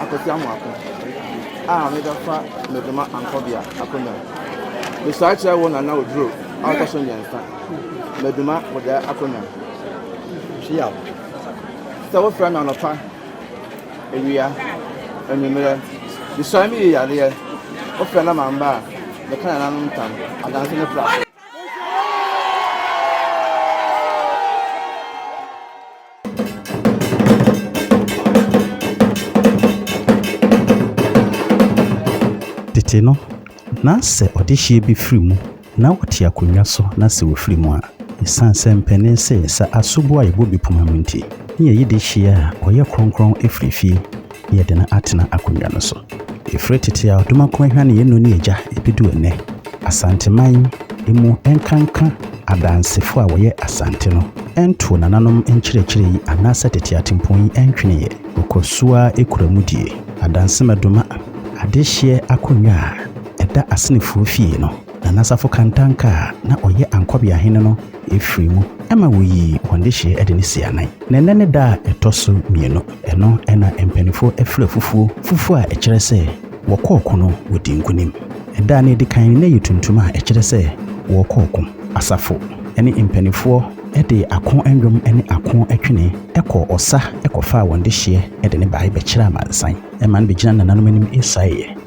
Akosi Amoako a mebɛfa no de ma Ankɔbea Akonwa. Mesɔre kyerɛ wo Nana Oduro a ɔtɔ so mmiɛnsa, Maduma Bodae Akonwa. Hyiaw sɛ wofrɛ me anɔpa, awia, anwummerɛ. Mesɔre meyi yareɛ, wofrɛ na mamba a, meka nananom ntam, adanse ne pra. Tete no, na sɛ ɔdehyeɛ bi firi mu na ɔte akonnwa so na sɛ ɔfiri mu a, ɛsiane sɛ mpanin se sɛ asoboɔ a ɛbɔ bi poma mu nti, ne yɛyi dehyeɛ a ɔyɛ kronkron firi fie. yɛ den atena akonnwa no so. Ɛfiri tete a Odumakum ahwane yɛn noni agya bɛdu ɛnnɛ, Asanteman mu nkanka Adansefo a wɔyɛ Asante no ntoo nananom nkyerɛkyerɛ yi anaasɛ tete atempɔn yi ntweneeɛ. Wɔkɔ so ara kura mu die. Adansemɛdoma, adehyeɛ akonnwa a ɛda Asenefoɔ fie no, Na n'asafo kantanka a na ɔyɛ Ankɔbea Hene no firii mu ma wɔyii wɔn dehyeɛ de ne sii anan. Na ɛnnɛ ne da a ɛtɔ so mmienu. Ɛno na mpaninfoɔ frɛ fufuo. Fufuo a ɛkyerɛ sɛ wɔkɔ ɔko no wɔdi nkunim. Ɛda a na ɛdi kan no na ɛyɛ tuntum a ɛkyerɛ sɛ wɔrekɔ ɔko. Asafo ne mpaninfoɔ de ako nnwom ne ako twene kɔɔ ɔsa kɔfaa wɔn dehyeɛ de no baeɛ bɛkyerɛɛ amansan ma no bɛgyinaa nananom anim saeɛ.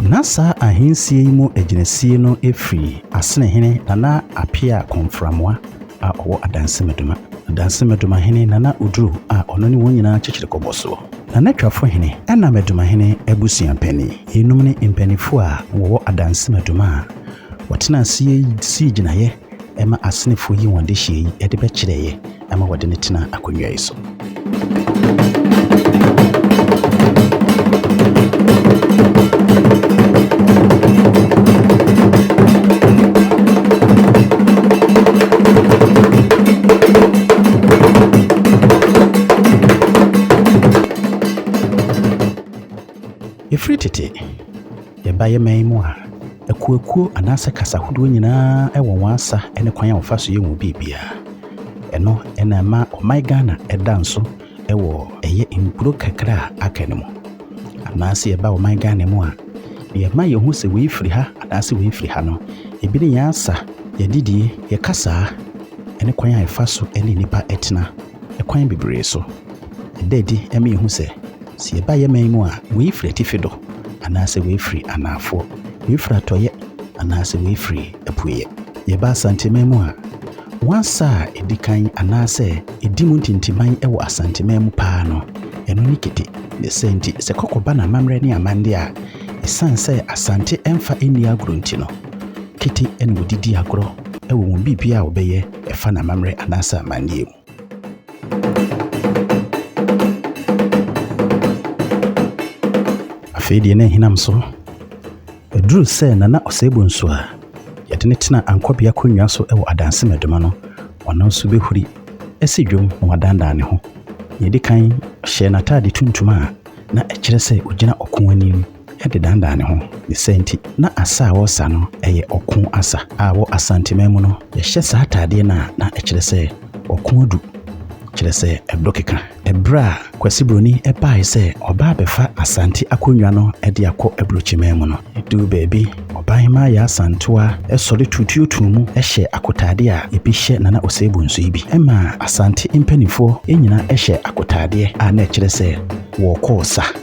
Ná saa ahensie yi mu agyinasie no firi Asenehene Nana Appiah Komframwa a ɔwɔ Adansi Medoma. Adansi Medoma hene Nana Oduro a ɔno ne wɔn nyinaa kyekyere kɔbɔ soɔ. Nana Twafo hene ɛna Medomahene abusua panin. Yeinom ne mpaninfoɔ a wɔwɔ Adansi Medoma a wɔtenaa aseɛ sii gyinaeɛ. ɛma asenefo yi wɔn dehyeɛ yi de bɛkyerɛeɛ ɛma wɔde no tenaa akonnwa yi so. Ɛfiri tete Yɛba yɛman yi mu a, akuakuo anaasɛ kasa ahodoɔ nyinaa wɔ wɔn asa ne kwan a wɔfa so yɛ wɔn biribiara. Ɛno na ɛma ɔman Ghana da nso wɔ ɛyɛ nkuro kakra a aka no mu. Anaasɛ yɛba ɔman Ghana mu a, deɛ ɛma yɛhu sɛ wei firi ha anaasɛ wei firi ha no, ebi ne yɛn asa, yɛn adidie, yɛn kasaa, ne kwan a yɛfa so ne nnipa tena. Kwan bebree so. Ɛda adi ma yɛhu sɛ, sɛ yɛba yɛman mu a, wei firi atifi do, anaasɛ wei firi anaafoɔ, wei firi atɔeɛ, anaasɛ wei firi apueɛ. Yɛba Asanteman mu a, Wansa a ɛdi kan anaasɛ ɛdi mu ntintiman wɔ Asanteman mu paa no, ɛno ne Kete. Ne saa nti, sɛ kɔkɔ ba n'amammerɛ ne amanneɛ a, ɛsiane sɛ Asante mfa nni agorɔ nti no, Kete na wɔde di agorɔ wɔ wɔn biribiara a wɔbɛyɛ Ɛfa n'amammerɛ anaasɛ amanneɛ mu. Afei deɛ na ahinam so. Ɛduru sɛ Nana Osei-Bonsu a yɛde no tena ankɔbea akonnwa so wɔ Adansi Medoma no, ɔno nso bɛhuri asi dwom na wadandan ne ho. Nea ɛdi kan, ɔhyɛɛ n'ataade tuntum a na ɛkyerɛ sɛ ɔgyina ɔko anim. de danedane ne ho. Ne saa nti, na asa a wɔresa no yɛ ɔko asa, a wɔ Asanteman mu no, yɛhyɛ saa atadeɛ no a, na ɛkyerɛ sɛ ɔko adu, kyerɛ sɛ ɛdɔ keka. Ɛberɛ a Kwasi Buroni baeɛ sɛ ɔba abɛfa Asante akonnwa no de akɔ Aburokyiman mu no, ɛduu baabi, Ɔbaahemaa Yaa Santoa sɔre tuutuutuu mu hyɛɛ akotadeɛ a ebi hyɛ Nana Osei Bonsu yi bi. Ɛmaa Asante mpanimfoɔ nyinaa hyɛɛ akotadeɛ a na ɛkyerɛ sɛ wɔrekɔ ɔsa.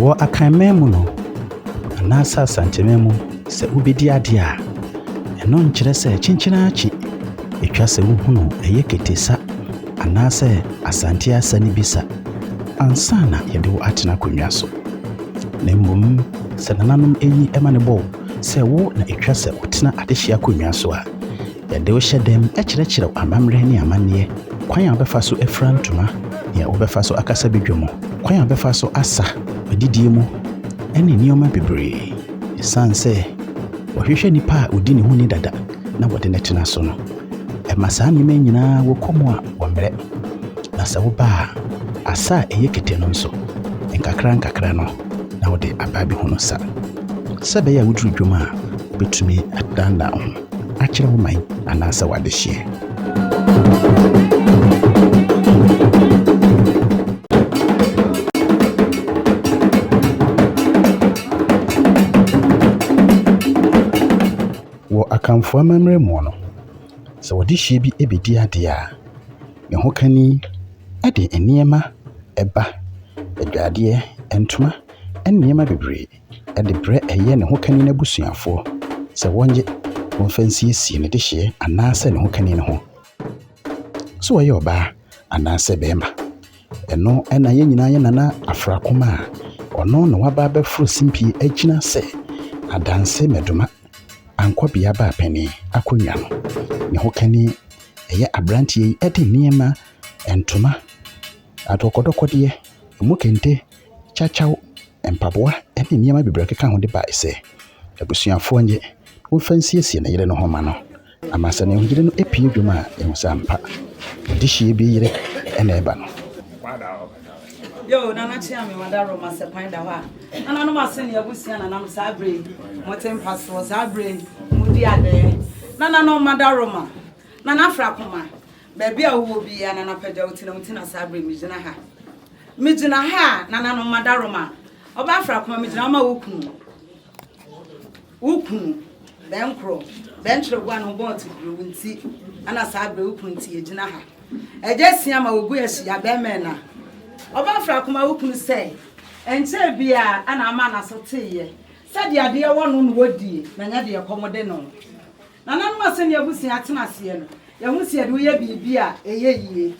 Wɔ Akanman mu no, anaasɛ Asanteman mu, sɛ wobɛdi adeɛ a, ɛno nkyerɛ sɛ kyenkyen ara kye. Ɛtwa sɛ wohunu ɛyɛ Kete sa anaasɛ Asante asa no bi sa ansa na yɛde wo atena akonnwa so. Na mmom sɛ nananom ani ma no bɔ wo sɛ wo na ɛtwa sɛ wotena adehye akonnwa so a, Yɛde wo hyɛ dɛm kyerɛkyerɛw amammerɛ ne amanneɛ, kwan a wobɛfa so afura ntoma, nea wobɛfa so akasa badwa mu, kwan a wobɛfa so asa, adidie mu, ne nneɛma bebree. Esiane sɛ wɔhwehwɛ nipa a odi ne ho ni dada na wɔde no tena so no, ɛma saa nneɛma yi nyinaa wɔ kɔ mu a wɔmmrɛ. Na sɛ woba a, asa a ɛyɛ kete no nso, nkakrankakra no na wode aba abɛhunu sa. Sɛ ɛbɛyɛ a woduru dwom a, wubetumi adannan wo ho. akyerɛ wo man anaasɛ w'adehyeɛ. Wɔ Akanfoɔ amammerɛ mu no, sɛ ɔdehyeɛ bi bɛdi adeɛ a, ne hokani de nneɛma ba, adwadeɛ, ntoma ne nneɛma bebree. de brɛ ɛyɛ ne hokanin abusuafoɔ sɛ wɔnyɛ wɔmfa nsiesie ne dehyeɛ anaasɛ ne hokanin no ho. Sɛ ɔyɛ ɔbaa anaasɛ barima. Ɛno na yɛn nyinaa yɛ Nana Afrakoma a ɔno na waba abɛforo simpie agyina sɛ Adanse Maduma Ankwabea Baapanin akonnwa no. Ne hokanin ɛyɛ aberanteɛ yi de nneɛma, ntoma, adɔkɔdɔkɔdeɛ, emu kente, kyakyaw, mpaboa ne nneɛma bebree a ɛkeka ho de bae sɛ abusuafoɔ nnye na wɔmfa nsiesie ne yere no ho mma no. Ama sɛ ne yere no apue dwom a, yɛhu sɛ ampa, adehyeɛ bi yere na ɛreba no. Yoo nana kyea me wada rom asɛ kwan da hɔ a nana nom ase ne abusua nanam saa bere yi mo te mpa soɔ saa bere yi mo di adɛɛ nana nom mada roma nana afra koma Baabi a wowɔ biara na anɔpa agya wotena mu tena saa bere megyina ha. Megyina ha a nananom madaroma. Ɔbaa frakoma megyina hɔ ma wo kunu. Wo kunu bɛnkoro bɛnkyerɛ boa no bɔɔ te bere wo nti ana saa bere wo kunu nti yɛgyina ha. Agya sia ma wɔgu ahyia bɛmɛ na ɔbaa frakoma wo kunu sɛ ɛnkyɛɛ biara ana ama n'aso teeɛ sɛ deɛ adeɛ wɔ no na wɔdie na nyɛ deɛ kɔm de no. Nananom a sɛnea abusua atena aseɛ no, yɛhu sɛ yɛde wo yɛ biribi a ɛyɛ yie.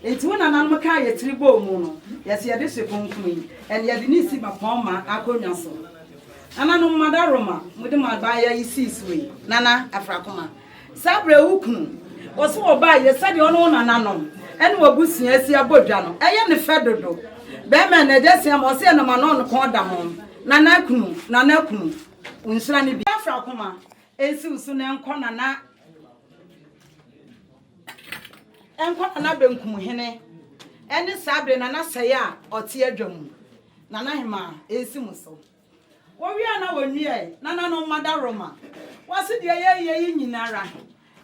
Enti wo nananom ka a yɛtiri bɔ mu no, yɛ sɛ yɛde hye kronkron yi, ɛnna yɛde ne si bapɔmma akonnwa so. Nananom, mo adaworoma, mode mo abaayɛ yi sii so yi. Nana Afrakoma, saa berɛ wo kunu, wɔse wɔbaa yɛ sɛdeɛ wo ne wo nananom ne w'abusua asi abɔ dwa no, ɛyɛ ne fɛ dodo. Bɛrima ɛnna agya si ama, ɔse ɛnam ano ɔnokɔn da ho. Nana kunu, Nana kunu, wo nhyira ne bi. Afrakoma, Ɛnsiw so na ɛnkɔ nana. Ɛnkɔ nana benkum hene. Ɛne saa bere nana sɛe a ɔte adwa mu. Nana hemaa, ɛnsi mo so. Wɔwie a na wɔnnuae, nananom mma dawuroma. Wɔse deɛ yɛreyɛ yi nyinara,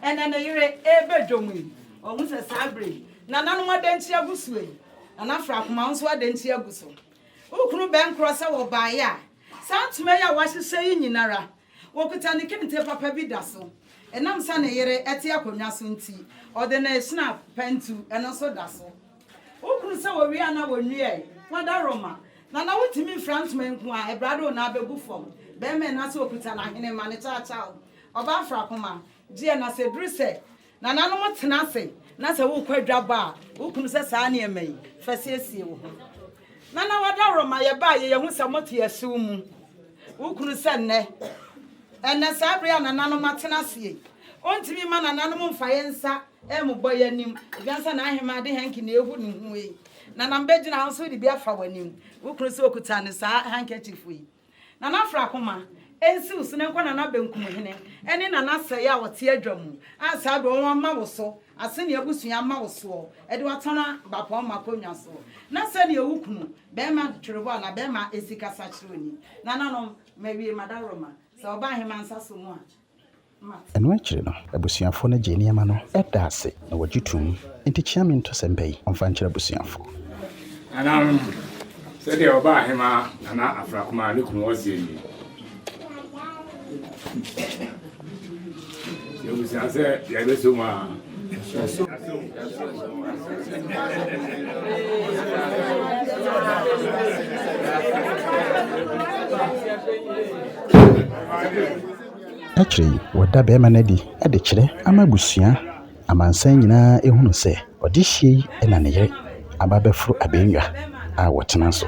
ɛnɛ ne yere reba dwom yi. Wɔahu sɛ saa bere yi, nananom adanti agu so yi. Nana Frakoma nso adanti agu so. Wo kunu bɛnkorɔ sɛ wɔbaeɛ a, saa ntoma yi a wɔahyehyɛ yi nyinara, Wɔkuta ne kente papa bi da so. Ɛnam sɛ ne yere te akonnwa so nti, ɔde ne shnap pantu no nso da so. Wohunu sɛ wɔwie a na wɔnnuae, wɔadaroma, na na wotumi fira ntoma nko ara, ɛberɛ a de wo nan bɛgu fam. Barima a na sɛ ɔkuta n'ahenema, ne kyawkyaw, ɔbaa frakoma, gyeɛ, na sɛ ɛduru sɛ Nananom tena ase na sɛ worekɔ adwabɔ a, wo kunu sɛ saa nneɛma yi, fa siesie wo ho. Nana Wadaworo ma yɛbaa yɛ yɛn ho sɛ moto yɛ siw mu. Wo kunu sɛ nnɛ, ɛnnɛ saa bere a nananom atena ase yi, ontumi mma nananom mfa yɛn nsa mmobɔ yɛn anim, esiane sɛ n'aheman de hanky na ehu ne ho yi, nanam begyina wo so de bi afa w'anim. Wo kunu sɛ okuta ne saa handkerchief yi. Nana Afrakoma, Nsiw sene nkɔ Nana Benkum Hene ne Nana Sɛe a ɔte adwa mu a saa doɔ wɔn ama wo so aseni abusua ama wo soɔ de watena bapɔn ma konnwa so na sɛdeɛ wo kunu bɛɛma twerebo anaa bɛɛma ɛsi kasa kyerɛ oni nananom mawie madaworoma sɛ ɔba aheman nsa so mu a. Ɛno akyiri no, abusuafoɔ no gyee nneɛma no da ase na wɔgye toom. Enti kyea me nto sɛmpa yi ɔmfa nkyerɛ abusuafoɔ. Nananom, sɛdeɛ Ɔbaahemaa Nana Afrakumaa ne kunu Ɔseɛ nie. Yɛbusua sɛ yɛbɛso mu aa. Yɛso mu. Akyire yi wɔda barima no adi de kyerɛ ama abusua amansan nyinaa hunu sɛ ɔdehyeɛ yi na ne yere aba abɛforo abɛnnwa a wɔtena so.